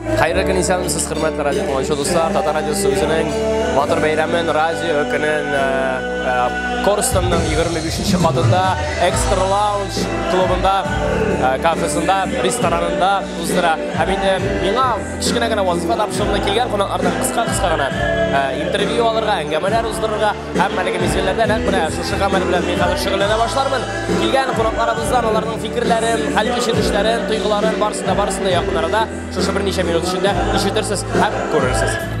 Хәерле көн исәнмесез, хөрмәтле радио тыңлаучы дуслар. Татар радиосы үзенең матур бәйрәмен радио көнен э, э, Корстонның 25-нче катында Extra Lounge клубында, э, кафесында, ресторанында уздыра. Һәм инде миңа кечкенә генә вазифа тапшырылды килгән кунаклардан кыска-кыска гына интервью алырга, әңгәмәләр уздырырга. Һәммәлегем исемләрдә нәкъ менә шушы камер белән мин хәзер шөгыльләнә башлармын. Килгән кунакларыбыздан аларның фикерләрен, хәл кичерешләрен, тойгыларын барысын да барысын да якын арада шушы берничә минут эчендә ишетерсез һәм күрерсез.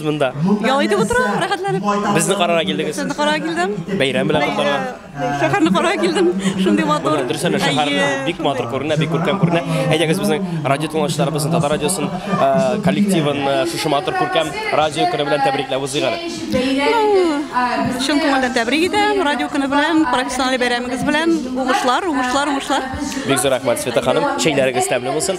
монда. Ял итеп утырам, рәхәтләнеп. Безне карарга килдегез. Сезне карарга килдем. Бәйрәм белән котларга. Шәһәрне карарга килдем. Шундый матур. Менә дөресен дә шәһәрне бик матур күренә, бик күркәм күренә. Әйдәгез безнең радио тыңлаучыларыбызны, Татар радиосын, э, коллективын э, шушы матур күркәм радио көне белән тәбрикләп узыйк әле. Ну, чын күңелдән тәбрик итәм. Радио көне белән, профессиональ бәйрәмегез белән. Уңышлар, уңышлар, уңышлар. Бик зур рәхмәт, Света ханым. Чәйләрегез тәмле булсын.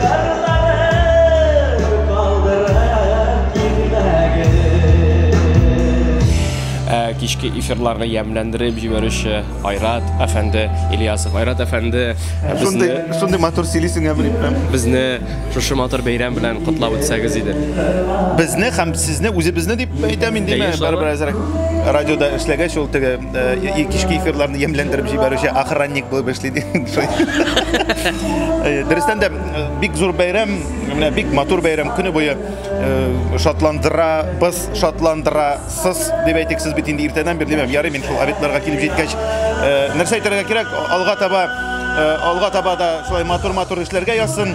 Кырларым калдырып китмәгез. Ә кичке эфирларны ямьләндереп җибәрүче Айрат әфәнде Ильясов. Айрат әфәнде безне... Шундый матур сөйлисең, ә белеп тә. Безне шушы матур бәйрәм белән котлап үтсәгез иде. Безне һәм сезне, үзебезне дип әйтәм инде, барыбер әзрәк радиода эшләгәч ул теге. Э, кичке эфирларны ямьләндереп җибәрүче охранник булып эшли ди. Э, дөрестән дә э, бик зур бәйрәм, менә бик матур бәйрәм көне буе шатландыра, без шатландыра, сыз дип әйтик, сез бит инде иртәдән бирле димәм, ярый мин шул обедларга килеп җиткәч, нәрсә әйтергә кирәк, алга таба алга таба да шулай матур-матур эшләргә язсын.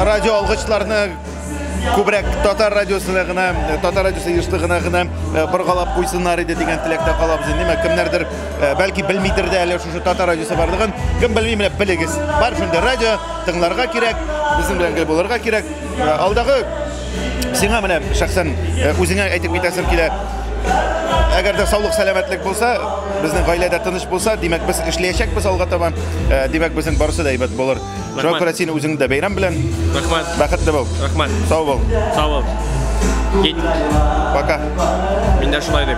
Радио алгычларны күбрәк татар радиосына гына э, татар радиосы ештыгына гына э, боргалап куйсыннар иде дигән теләктә калабыз инде димәк кемнәрдер э, бәлки белмидер дә әле шушы татар радиосы барлыгын кем белми менә белегез бар шундый радио тыңларга кирәк безнең белән гел булырга кирәк алдагы сиңа менә шәхсән үзеңә әйтеп китәсем килә әгәр дә саулык сәламәтлек булса безнең гаиләдә тыныч булса димәк без эшләячәкбез алга таба димәк безнең барысы да әйбәт булыр Шуңа күрә син үзеңне дә бәйрәм белән. Рәхмәт. Бәхетле бул. Рәхмәт. Сау бул. Сау бул. Кит. Пока. Мин дә шулай дим.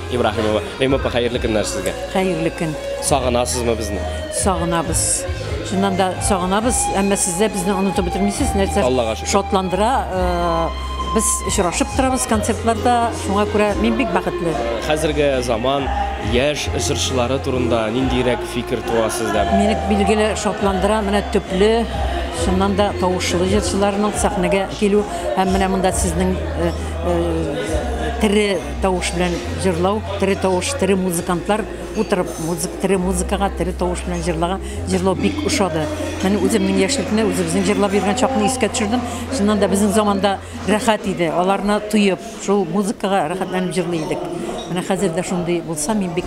Ибраһимова. Римопа, хәерле көннәр сезгә. Хәерле көн. Сагынасызмы безне? Сагынабыз. Шуннан да сагынабыз, әмма сез дә безне онытып бетермисез. Нәрсә Аллага шөкер. шатландыра, э, без очрашып торабыз концертларда, шуңа күрә мин бик бәхетле. Хәзерге заман яшь җырчылары турында ниндирәк фикер туа сездә? Мине билгеле шатландыра менә төпле, шуннан да тавышлы җырчыларның сәхнәгә килү һәм менә монда сезнең э, э, тере Тавыш белән җырлау, тере тавыш, тере музыкантлар утырып, музык, тере музыкага, тере тавыш белән җырлаган, җырлау бик ошады. Менә үземнең яшьлекне, үзебезнең җырлап йөргән чакны искә төшердем. Шуннан да безнең заманда рәхәт иде. Аларны тоеп, шул музыкага рәхәтләнеп җырлый идек. Менә хәзер дә шундый булса, мин бик